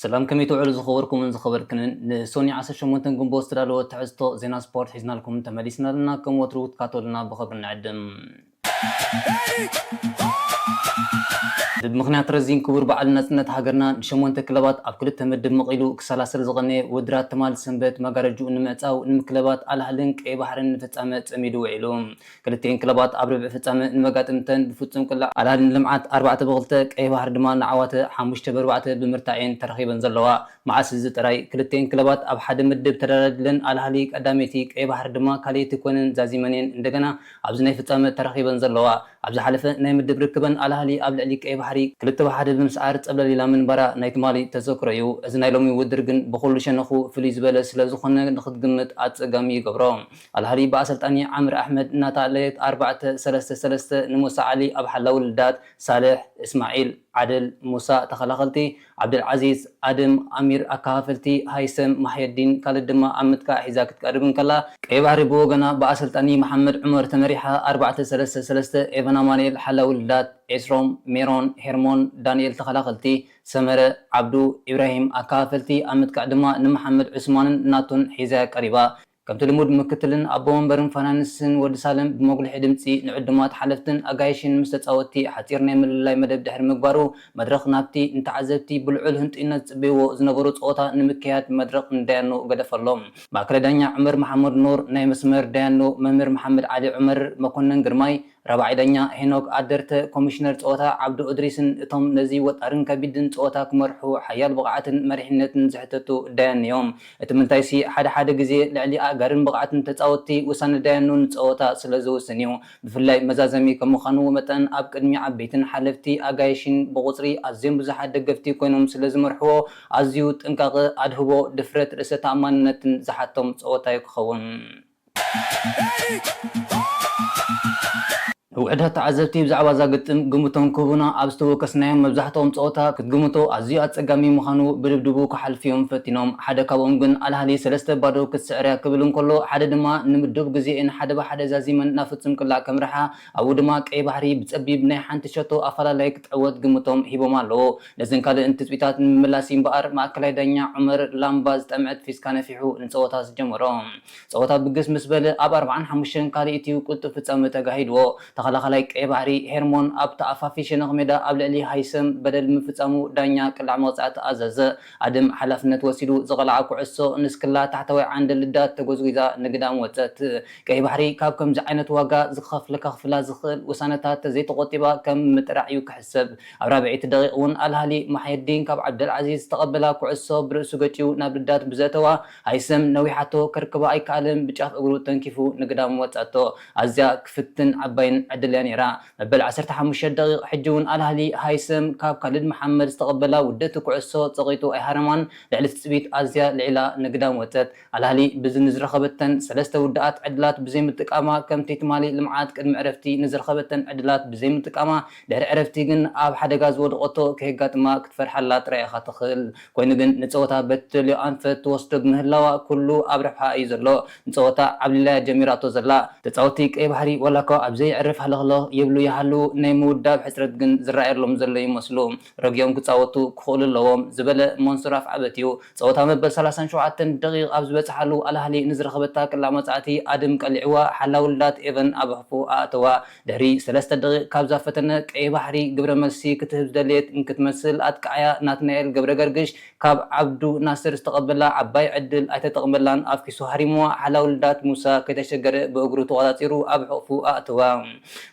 ሰላም ከመይ ትውዕሉ ዝኸበርኩምን ዝኸበርክንን ንሶኒ ዓሰርተ ሸሞንተ ግንቦት ዝተዳለወ ትሕዝቶ ዜና ስፖርት ሒዝናልኩም ተመሊስና ኣለና ከም ወትሩ ክትካተሉና ብኽብሪ ንዕድም። ብብምኽንያት ረዚን ክቡር በዓል ናጽነት ሃገርና ንሸሞንተ ክለባት ኣብ ክልተ ምድብ መቒሉ ክሰላሰል ዝቐነየ ውድድራት ትማል ሰንበት መጋረጅኡ ንምዕጻው ንምክለባት ኣልኣህልን ቀይባሕርን ንፍጻመ ጸሚዱ ውዒሉ ክልቲኤን ክለባት ኣብ ርብዒ ፍጻመ ንመጋጥምተን ብፍጹም ቅላዕ ኣልኣህሊ ንልምዓት ኣርባዕተ ብክልተ፣ ቀይሕ ባሕሪ ድማ ንዓዋተ ሓሙሽተ ብኣርባዕተ ብምርታዕ እየን ተራኺበን ዘለዋ። መዓስ እዚ ጥራይ ክልቲኤን ክለባት ኣብ ሓደ ምድብ ተደላዲለን ኣልኣህሊ ቀዳመይቲ ቀይሕ ባሕሪ ድማ ካልኣይቲ ኮይነን ዛዚመን እየን እንደገና ኣብዚ ናይ ፍጻመ ተራኺበን ዘለዋ። ኣብ ዝሓለፈ ናይ ምድብ ርክበን ኣልኣህሊ ኣብ ልዕሊ ቀይሕ ባሕሪ ክልተ ብ ሓደ ብምስዓር ጸብለል ኢላ ምንባራ ናይ ትማሊ ተዘክሮ እዩ። እዚ ናይ ሎሚ ውድድር ግን ብኹሉ ሸነኹ ፍልይ ዝበለ ስለ ዝኾነ ንኽትግምት ኣጸጋሚ ይገብሮ። ኣልሃዲ ብኣሰልጣኒ ዓምር ኣሕመድ እናተኣለየት ኣርባዕተ፣ ሰለስተ፣ ሰለስተ ንሙሳ ዓሊ ኣብ ሓላዊ ልዳት፣ ሳልሕ፣ እስማዒል፣ ዓደል፣ ሙሳ፣ ተኸላኸልቲ፣ ዓብደልዓዚዝ፣ ኣደም፣ ኣሚር፣ ኣከፋፈልቲ፣ ሃይሰም፣ ማሕየዲን፣ ካልድ ድማ ኣብ ምጥቃዕ ሒዛ ክትቀርብ እንከላ፣ ቀይባሕሪ ብወገና ብኣሰልጣኒ መሓመድ ዑመር ተመሪሓ ኣርባዕተ፣ ሰለስተ፣ ሰለስተ ኤቨን ኣማኑኤል ሓላዊ ልዳት፣ ኤስሮም፣ ሜሮን፣ ሄርሞን፣ ዳኒኤል ተኸላኸልቲ፣ ሰመረ፣ ዓብዱ፣ ኢብራሂም ኣከፋፈልቲ ኣብ ምጥቃዕ ድማ ንመሓመድ ዑስማንን ናቱን ሒዛ'ያ ቀሪባ። ከምቲ ልሙድ ምክትልን ኣቦ ወንበርን ፋናንስን ወዲ ሳልም ብመጉልሒ ድምጺ ንዕዱማት ሓለፍትን ኣጋይሽን ምስ ተጻወትቲ ሓጺር ናይ ምልላይ መደብ ድሕሪ ምግባሩ መድረኽ ናብቲ ንተዓዘብቲ ብልዑል ህንጡይነት ዝጽበይዎ ዝነበሩ ጸወታ ንምክያድ መድረኽ ንዳያኑ ገደፈሎም። ማእከላይ ዳኛ ዑመር መሓመድ ኑር፣ ናይ መስመር ዳያኑ መምህር መሓመድ ዓሊ ዑመር፣ መኮነን ግርማይ፣ ራብዓይ ዳኛ ሄኖክ ኣደርተ፣ ኮሚሽነር ጸወታ ዓብዱ እድሪስን እቶም ነዚ ወጣርን ከቢድን ጸወታ ክመርሑ ሓያል ብቕዓትን መሪሕነትን ዝሕተቱ ዳያን'ዮም። እቲ ምንታይሲ ሓደ ሓደ ግዜ ልዕሊ ኣእጋርን ብቕዓትን ተጻወትቲ ውሳነ ዳያኑ ንጸወታ ስለ ዝውስን'ዩ። ብፍላይ መዛዘሚ ከም ምዃኑ መጠን ኣብ ቅድሚ ዓበይትን ሓለፍቲ ኣጋይሽን ብቑጽሪ ኣዝዮም ብዙሓት ደገፍቲ ኮይኖም ስለ ዝመርሕዎ ኣዝዩ ጥንቃቐ፣ ኣድህቦ፣ ድፍረት፣ ርእሰ ተኣማንነትን ዝሓቶም ጸወታ'ዩ ክኸውን። ውሑዳት ተዓዘብቲ ብዛዕባ እዛ ግጥም ግምቶም ክህቡና ኣብ ዝተወከስናዮም መብዛሕትኦም ጸወታ ክትግምቶ ኣዝዩ ኣጸጋሚ ምዃኑ ብድብድቡ ክሓልፍ'ዮም ፈቲኖም ሓደ ካብኦም ግን ኣልኣህሊ ሰለስተ ባዶ ክትስዕር'ያ ክብል እንከሎ ሓደ ድማ ንምዱብ ግዜኤን ሓደ ብሓደ ዛዚመን ናብ ፍጹም ቅላዕ ከምርሓ ኣብኡ ድማ ቀይሕ ባሕሪ ብጸቢብ ናይ ሓንቲ ሸቶ ኣፈላላይ ክትዕወት ግምቶም ሂቦም ኣለዉ። ነዘን ካልእን ትጽቢታት ንምምላስ እዩ እምበኣር ማእከላይ ዳኛ ዑመር ላምባ ዝጠምዐት ፊስካ ነፊሑ ንጸወታ ዝጀመሮ። ጸወታ ብግስ ምስ በለ ኣብ ኣርብዓን ሓሙሽተን ካልኢት'ዩ ቅልጡፍ ፍጻመ ተጋሂድዎ። ተኸላኻላይ ቀይሕ ባሕሪ ሄርሞን ኣብ ተኣፋፊ ሸነኽ ሜዳ ኣብ ልዕሊ ሃይሰም በደል ብምፍጻሙ ዳኛ ቅለዕ መቕጻዕቲ ኣዘዘ። ኣድም ሓላፍነት ወሲዱ ዝቐልዓ ኩዕሶ ንስክላ ታሕተዋይ ዓንዲ ልዳት ተጎዝጒዛ ንግዳም ወጸት። ቀይሕ ባሕሪ ካብ ከምዚ ዓይነት ዋጋ ዝኸኸፍል ከኽፍላ ዝኽእል ውሳነታት ተዘይተቖጢባ ከም ምጥራዕ እዩ ክሕሰብ። ኣብ ራብዐይቲ ደቒቕ ውን ኣል ኣህሊ ማሕየዲን ካብ ዓብደልዓዚዝ ዝተቐበላ ኩዕሶ ብርእሱ ገጭዩ ናብ ልዳት ብዘእተዋ ሃይሰም ነዊሓቶ ከርክባ ኣይከኣለን ብጫፍ እግሩ ተንኪፉ ንግዳም ወጻቶ። ኣዝያ ክፍትን ዓባይን ዕድል እያ ነይራ። መበል ዓሰርተ ሓሙሽተ ደቒቕ ሕጂ ውን ኣል ኣህሊ ሃይሰም ካብ ካልድ መሓመድ ዝተቐበላ ውድእቲ ኩዕሶ ጸቒጡ ኣይሃረማን፣ ልዕሊ ትጽቢት ኣዝያ ልዒላ ንግዳም ወጸት። ኣል ኣህሊ ብዚ ንዝረኸበተን ሰለስተ ውድኣት ዕድላት ብዘይምጥቃማ ከምቲ ትማሊ ልምዓት ቅድሚ ዕረፍቲ ንዝረኸበተን ዕድላት ብዘይምጥቃማ ድሕሪ ዕረፍቲ ግን ኣብ ሓደጋ ዝወደቐቶ ከየጋጥማ ክትፈርሓላ ጥራይ ኢኻ ትኽእል። ኮይኑ ግን ንጸወታ በትልዮ ኣንፈት ትወስዶ ብምህላዋ ኩሉ ኣብ ረብሓኣ እዩ ዘሎ። ንጸወታ ዓብሊላያ ጀሚራቶ ዘላ። ተጻወቲ ቀይ ባሕሪ ዋላኳ ኣብ ዘየዕርፍ ሃለኽለኽ ይብሉ ይሃልዉ ናይ ምውዳብ ሕጽረት ግን ዝረኣየሎም ዘሎ ይመስሉ። ረጊኦም ክጻወቱ ክኽእሉ ኣለዎም ዝበለ መንሱር ኣፍዓበት እዩ። ጸወታ መበል ሰላሳን ሸውዓተን ደቒቕ ኣብ ዝበጽሓሉ ኣልኣህሊ ንዝረኸበታ ቀላዕ መጻእቲ ኣድም ቀሊዕዋ ሓላዊ ልዳት ኤቨን ኣብ ኣፉ ኣእተዋ። ድሕሪ ሰለስተ ደቒቕ ካብዛ ፈተነ ቀይሕ ባሕሪ ግብረ መልሲ ክትህብ ዝደለየት እንክትመስል ኣጥቃዓያ ናትናኤል ገብረገርግሽ ካብ ዓብዱ ናስር ዝተቐበላ ዓባይ ዕድል ኣይተጠቕመላን ኣፍኪሱ ሃሪምዋ ሓላውልዳት ሙሳ ከይተሸገረ ብእግሩ ተቖጻጺሩ ኣብ ሕቕፉ ኣእተዋ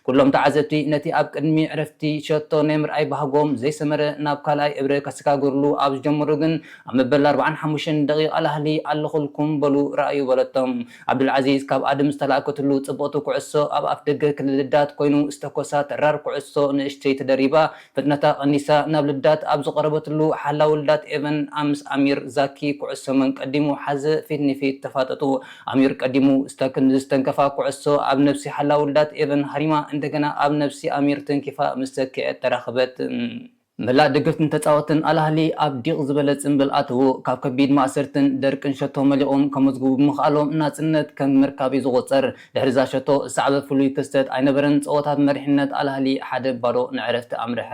ኩሎም ተዓዘብቲ ነቲ ኣብ ቅድሚ ዕረፍቲ ሸቶ ናይ ምርኣይ ባህጎም ዘይሰመረ ናብ ካልኣይ እብረ ከሰጋግርሉ ኣብ ዝጀመሩ ግን ኣብ መበል ኣርብዓን ሓሙሽተን ደቒቕ ኣላህሊ ኣለኹልኩም በሉ ርኣዩ በለቶም ዓብዱልዓዚዝ ካብ ኣድም ዝተላእከትሉ ጽብቕቲ ኩዕሶ ኣብ ኣፍደገ ክልል ልዳት ኮይኑ ዝተኮሳ ተራር ኩዕሶ ንእሽተይ ተደሪባ ፍጥነታ ቀኒሳ ናብ ልዳት ኣብ ዝቐረበትሉ ሓላዊ ልዳት ኤቨን ኣምስ ኣሚር ዛኪ ኩዕሶ መን ቀዲሙ ሓዘ ፊት ንፊት ተፋጠጡ ኣሚር ቀዲሙ ስታክን ንዝስተንከፋ ኩዕሶ ኣብ ነብሲ ሓላዊ ልዳት ኤቨን ሃሪማ እንደገና ኣብ ነብሲ ኣሚር ተንኪፋ ምስ ሰኪዐት ተራኸበት መላእ ደገፍትን ተጻወትን ኣል ኣህሊ ኣብ ዲቕ ዝበለ ጽንብል ኣተዉ። ካብ ከቢድ ማእሰርትን ደርቅን ሸቶ መሊቖም ከመዝግቡ ብምኽኣሎም ናጽነት ከም ምርካብ'ዩ ዝቑጸር። ድሕሪ'ዛ ሸቶ ዝሰዓበ ፍሉይ ክስተት ኣይነበረን፣ ጸወታ ብመሪሕነት ኣል ኣህሊ ሓደ ባዶ ንዕረፍቲ ኣምርሐ።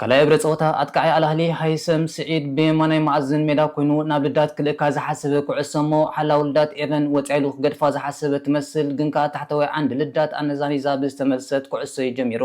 ካልኣይ እግረ ጸወታ ኣጥቃዓይ ኣልኣህሊ ሃይሰም ስዒድ ብየማናይ መኣዝን ሜዳ ኮይኑ ናብ ልዳት ክልእካ ዝሓሰበ ኩዕሶ እሞ ሓላዊ ልዳት ኤቨን ወጻኢሉ ክገድፋ ዝሓሰበ ትመስል ግን ከኣ ታሕተዋይ ዓንዲ ልዳት ኣነዛኒዛ ብዝተመልሰት ኩዕሶ'ዩ ጀሚሩ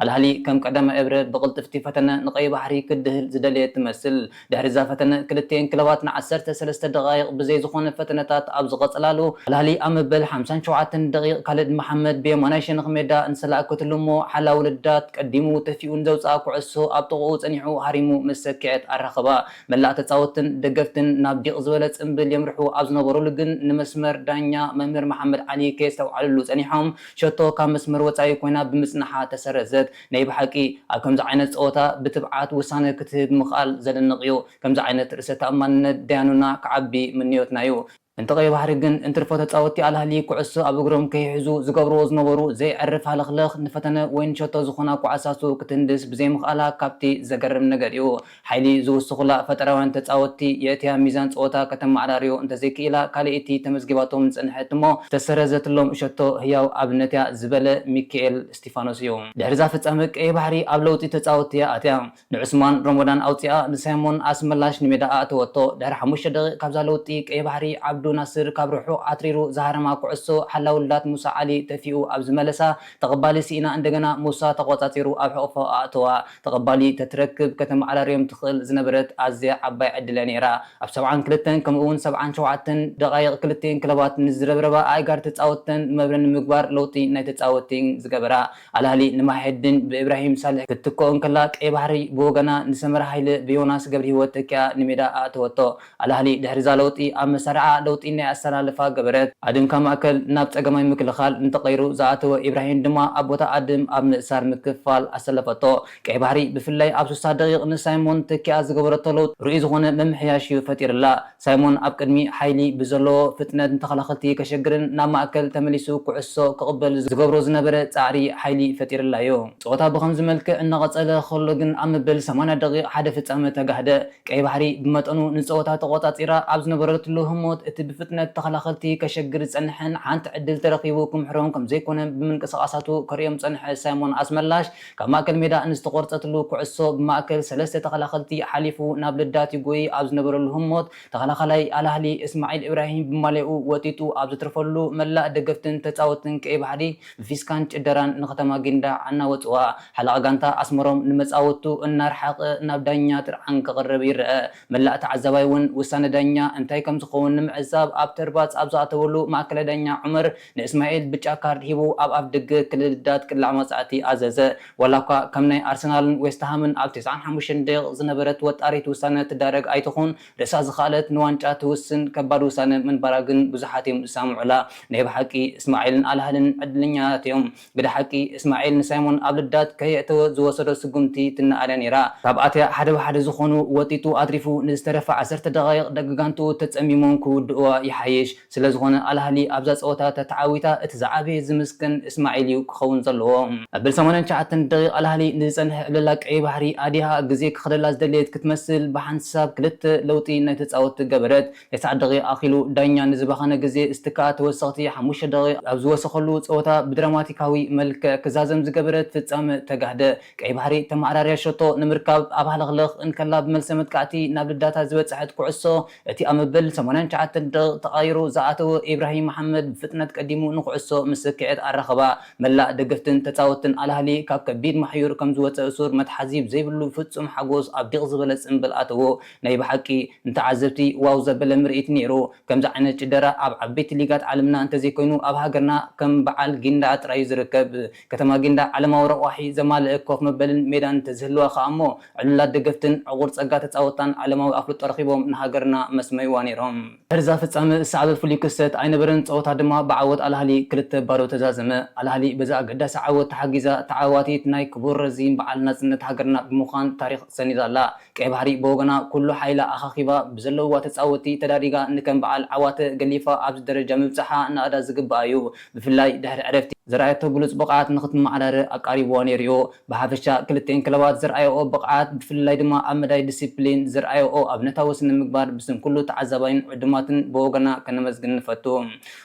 ኣልኣህሊ ከም ቀዳማይ እብረ ብቕልጥፍቲ ፈተነ ንቀይባሕሪ ክድህል ዝደለየ ትመስል ድሕሪ'ዛ ፈተነ፣ ክልቲኤን ክለባት ንዓሰርተ ሰለስተ ደቓይቕ ብዘይ ዝኾነ ፈተነታት ኣብ ዝቐጸላሉ፣ ኣልኣህሊ ኣብ መበል ሓምሳን ሸውዓተን ደቒቕ ካልድ መሓመድ ብየማናይ ሸነኽ ሜዳ እንሰላኣከትሉ'ሞ ሓላዊ ልዳት ቀዲሙ ተፊኡ ንዘውጽኣ ኩዕሶ ኣብ ጥቕኡ ጸኒሑ ሃሪሙ ምስ ሰኪዐት ኣራኸባ። መላእ ተጻወትን ደገፍትን ናብ ዲቕ ዝበለ ጽንብል የምርሑ ኣብ ዝነበሩሉ ግን ንመስመር ዳኛ መምህር መሓመድ ዓሊ ከየስተውዓሉሉ ጸኒሖም ሸቶ ካብ መስመር ወጻኢ ኮይና ብምጽናሓ ተሰረዘት። ናይ ብሓቂ ኣብ ከምዚ ዓይነት ጸወታ ብትብዓት ውሳነ ክትህብ ምኽኣል ዘደንቕ እዩ። ከምዚ ዓይነት ርእሰ ተኣማንነት ደያኑና ክዓቢ ምንዮትና እዩ። እንተ ቀይ ባሕሪ ግን እንትርፎ ተጻወቲ ኣልኣህሊ ኩዕሶ ኣብ እግሮም ከይሕዙ ዝገብርዎ ዝነበሩ ዘይዕርፍ ሃለኽለኽ ንፈተነ ወይ ንሸቶ ዝኾና ኩዓሳሱ ክትህንድስ ብዘይምኽኣላ ካብቲ ዘገርም ነገር እዩ። ሓይሊ ዝውስኹላ ፈጠራውያን ተጻወትቲ የእትያ ሚዛን ጸወታ ከተመዓራርዮ እንተዘይክኢላ ካልኣይቲ ተመዝጊባቶም ዝጸንሐት እሞ ዝተሰረዘትሎም ሸቶ ህያው ኣብነት'ያ ዝበለ ሚኪኤል እስቲፋኖስ'ዩ። ድሕሪ'ዛ ፍጻመ ቀይሕ ባሕሪ ኣብ ለውጢ ተጻወትቲ'ያ ኣትያ። ንዑስማን ሮሞዳን ኣውጺኣ ንሳይሞን ኣስመላሽ ንሜዳ ኣእተወቶ። ድሕሪ ሓሙሽተ ደቒቕ ካብ'ዛ ለውጢ ቀይሕ ባሕሪ ዓብዱ ናስር ካብ ርሑቕ ኣትሪሩ ዝሃረማ ኩዕሶ ሓላውልዳት ሙሳ ዓሊ ተፊኡ ኣብ ዝመለሳ ተቐባሊ ስኢና እንደገና ሙሳ ተቖጻጺሩ ኣብ ሕቕፎ ኣእተዋ። ተቐባሊ ከትረክብ ከተመዓራርዮም ትኽእል ዝነበረት ኣዝያ ዓባይ ዕድል'ያ ነይራ። ኣብ ሰብዓን ክልተን ከምኡ'ውን ሰብዓን ሸውዓተን ደቓይቕ ክልቲኤን ክለባት ንዝረብረባ ኣእጋር ተጻወትተን መብረ ንምግባር ለውጢ ናይ ተጻወትቲ ዝገበራ ኣልኣህሊ ንማሕየዲን ብኢብራሂም ሳልሕ ክትትክኦ እንከላ ቀይባሕሪ ብወገና ንሰመረ ሃይለ ብዮናስ ገብርሂወት ተኪኣ ንሜዳ ኣእተወቶ። ኣላህሊ ድሕሪ'ዛ ለውጢ ኣመሳርዓ ለውጢ ናይ ኣሰላልፋ ገበረት። ኣድም ካብ ማእከል ናብ ጸገማይ ምክልኻል ንተቐይሩ ዝኣተወ ኢብራሂን ድማ ኣብ ቦታ ኣድም ኣብ ምእሳር ምክፍፋል ኣሰለፈቶ። ቀይ ባሕሪ ብፍላይ ኣብ ስሳ ደቒቕ ንሳይሞን ተኪኣ ዝገበረቶ ለውጢ ርኡይ ዝኾነ ምምሕያሽ'ዩ ፈጢርላ። ሳይሞን ኣብ ቅድሚ ሓይሊ ብዘለዎ ፍጥነት ንተኸላኸልቲ ከሸግርን ናብ ማእከል ተመሊሱ ኩዕሶ ክቕበል ዝገብሮ ዝነበረ ጻዕሪ ሓይሊ ፈጢርላ'ዩ። ጸወታ ብኸምዚ መልክዕ እናቐጸለ ከሎ ግን ኣብ መበል ሰማንያ ደቒቕ ሓደ ፍጻመ ተጋህደ። ቀይ ባሕሪ ብመጠኑ ንጸወታ ተቖጻጺራ ኣብ ዝነበረትሉ ህሞት እቲ ብፍጥነት ተኸላኸልቲ ከሸግር ዝጸንሐን ሓንቲ ዕድል ተረኺቡ ክምሕሮም ከምዘይኮነ ብምንቅስቓሳቱ ከርእዮም ዝጸንሐ ሳይሞን ኣስመላሽ ካብ ማእከል ሜዳ ንዝተቖርጸትሉ ኩዕሶ ብማእከል ሰለስተ ተኸላኸልቲ ሓሊፉ ናብ ልዳት ይጎይ ኣብ ዝነበረሉ ህሞት ተኸላኻላይ ኣልኣህሊ እስማዒል ኢብራሂም ብማልያኡ ወጢጡ ኣብ ዘትርፈሉ መላእ ደገፍትን ተጻወትን ቀይ ባሕሪ ፊስካን ጭደራን ንከተማ ጊንዳዕ ኣናወጽዋ። ሓላቒ ጋንታ ኣስመሮም ንመጻወቱ እናርሓቐ ናብ ዳኛ ጥርዓን ከቕርብ ይረኣ። መላእ ተዓዛባይ ውን ውሳነ ዳኛ እንታይ ከምዝኸውን ንምዕዛብ ኣብ ተርባጽ ኣብ ዝኣተወሉ ማእከላይ ዳኛ ዑመር ንእስማኤል ብጫ ካርድ ሂቡ ኣብ ኣፍደገ ክልልዳት ቅላዕ መቕጻዕቲ ኣዘዘ። ዋላኳ ከም ናይ ኣርሰናልን ዌስትሃምን ኣብ ተስዓን ሓሙሽተን ደቒቕ ዝነበረት ወጣሪት ውሳነ ትዳረግ ኣይትኹን ርእሳ ዝኸኣለት ንዋንጫ ትውስን ከባድ ውሳነ ምንባራ ግን ብዙሓት'ዮም ዝሰማምዑላ። ናይ ብሓቂ እስማዒልን ኣልሃልን ዕድለኛታት'ዮም። ግደ ሓቂ፣ እስማዒል ንሳይሞን ኣብ ልዳት ከየእተወ ዝወሰዶ ስጉምቲ ትነኣድ'ያ ነይራ። ካብ ኣትያ ሓደ ብሓደ ዝኾኑ ወጢጡ ኣትሪፉ ንዝተረፋ ዓሰርተ ደቓይቕ ደቂ ጋንትኡ ተጸሚሞም ክውድኡዋ ይሓይሽ። ስለዝኾነ ኣልኣህሊ ኣብዛ ፀወታ ተተዓዊታ እቲ ዝዓበየ ዝምስገን እስማዒል እዩ ክኸውን ዘለዎ። መበል ሰማንያን ትሽዓተን ደቒቕ ኣልኣህሊ ንዝፀንሐ ዕብለላ ቀይሕ ባሕሪ ኣዲሃ ግዜ ክኸደላ ዝደለየት ክትመስል ብሓንሳብ ክልተ ለውጢ ናይ ተፃወትቲ ገበረት። ተስዓ ደቒቕ ኣኺሉ ዳኛ ንዝባኸነ ግዜ እስቲ ከዓ ተወሰኽቲ ሓሙሽተ ደቒቕ ኣብ ዝወሰኸሉ ፀወታ ብድራማቲካዊ መልክዕ ክዛዘም ዝገበረት ፍፃመ ተጋህደ። ቀይሕ ባሕሪ ተመዓራርያ ሸቶ ንምርካብ ኣብ ሃለኽለኽ እንከላ ብመልሰ መጥቃዕቲ ናብ ልዳታ ዝበፀሐት ኩዕሶ እቲ ኣብ መበል ሰማንያን ትሽዓተን ደቒቕ ተቓይሩ ዝኣተወ ኢብራሂም መሓመድ ብፍጥነት ቀዲሙ ንኩዕሶ ምስ ስኪዔት ኣራኸባ። መላእ ደገፍትን ተጻወትትን ኣልኣህሊ ካብ ከቢድ ማሕዩር ከም ዝወጸ ሱር መትሓዚ ብዘይብሉ ፍጹም ሓጎስ ኣብ ዲቕ ዝበለ ጽምብል ኣተዎ። ናይ ብሓቂ ንተዓዘብቲ ዋው ዘበለ ምርኢት ነይሩ። ከምዚ ዓይነት ጭደራ ኣብ ዓበይቲ ሊጋት ዓለምና እንተዘይኮይኑ ኣብ ሃገርና ከም በዓል ጊንዳዕ ጥራይ'ዩ ዝርከብ። ከተማ ጊንዳዕ ዓለማዊ ረቋሒ ዘማልእ ኮፍ መበልን ሜዳን እንተዝህልዋ ከኣ'ሞ ዕሉላት ደገፍትን ዕቑር ጸጋ ተጻወትታን ዓለማዊ ኣፍልጦ ረኺቦም ንሃገርና መስመይዋ ነይሮም። ድሕሪ እዛ ፍጻመ ዝሰዓበ ፍሉይ ክስተት ኣይነበረን፣ ጸወታ ድማ ብዓወት ኣልኣህሊ ክልተ ባዶ ተዛዘመ። ኣልኣህሊ በዚ ኣገዳሲ ዓወት ተሓጊዛ ተዓዋቲት ናይ ክቡር ረዚን በዓል ናጽነት ሃገርና ብምዃን ታሪኽ ሰኒዳ ኣላ። ቀይ ባሕሪ ብወገና ኩሉ ሓይላ ኣኻኺባ ብዘለዉዋ ተጻወትቲ ተዳሪጋ ንከም በዓል ዓዋተ ገሊፋ ኣብዚ ደረጃ ምብጻሓ ናእዳ ዝግብኣ እዩ። ብፍላይ ድሕሪ ዕረፍቲ። ዘርኣየቶ ብሉጽ ብቕዓት ንኽትመዓራረ ኣቃሪብዋ ነይሩ'ዩ። ብሓፈሻ ክልቲኤን ክለባት ዘርኣየኦ ብቕዓት ብፍልላይ ድማ ኣብ መዳይ ዲሲፕሊን ዘርኣየኦ ኣብነታዊ ስነ ምግባር ብስም ኩሉ ተዓዛባይን ዕዱማትን ብወገና ከነመስግን ንፈቱ።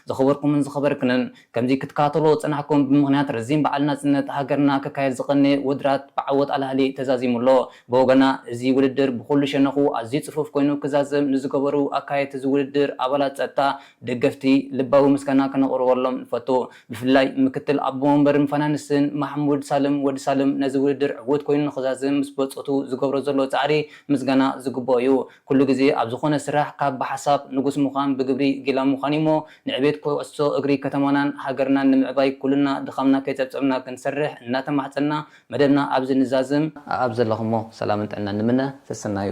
ዝኸበርኩምን ዝኸበርክንን ከምዚ ክትከታተልዎ ዝጸናሕኩም ብምኽንያት ረዚን በዓል ናጽነት ሃገርና ክካየድ ዝቐነየ ውድራት ብዓወት ኣላህሊ ተዛዚሙ ኣሎ። ብወገና እዚ ውድድር ብኹሉ ሸነኹ ኣዝዩ ጽፉፍ ኮይኑ ክዛዘም ንዝገበሩ ኣካየድቲ እዚ ውድድር ኣባላት ጸጥታ ደገፍቲ ልባዊ ምስጋና ከነቕርበሎም ንፈቱ። ብፍላይ ምክትል ኣቦ ወንበርን ፋናንስን ማሕሙድ ሳልም፣ ወዲ ሳልም፣ ነዚ ውድድር ዕዉት ኮይኑ ንኽዛዝም ምስ በጾቱ ዝገብሮ ዘሎ ጻዕሪ ምስጋና ዝግብኦ እዩ። ኩሉ ግዜ ኣብ ዝኾነ ስራሕ ካብ ብሓሳብ ንጉስ ምዃን ብግብሪ ጊላ ምዃን እዩ'ሞ ንዕቤት ኩዕሶ እግሪ ከተማናን ሃገርናን ንምዕባይ ኩልና ድኻምና ከይጸብጸብና ክንሰርሕ እናተማሕጸንና መደብና ኣብዚ ንዛዝም። ኣኣብ ዘለኹሞ ሰላምን ጥዕናን ንምነ። ሰሰናዩ።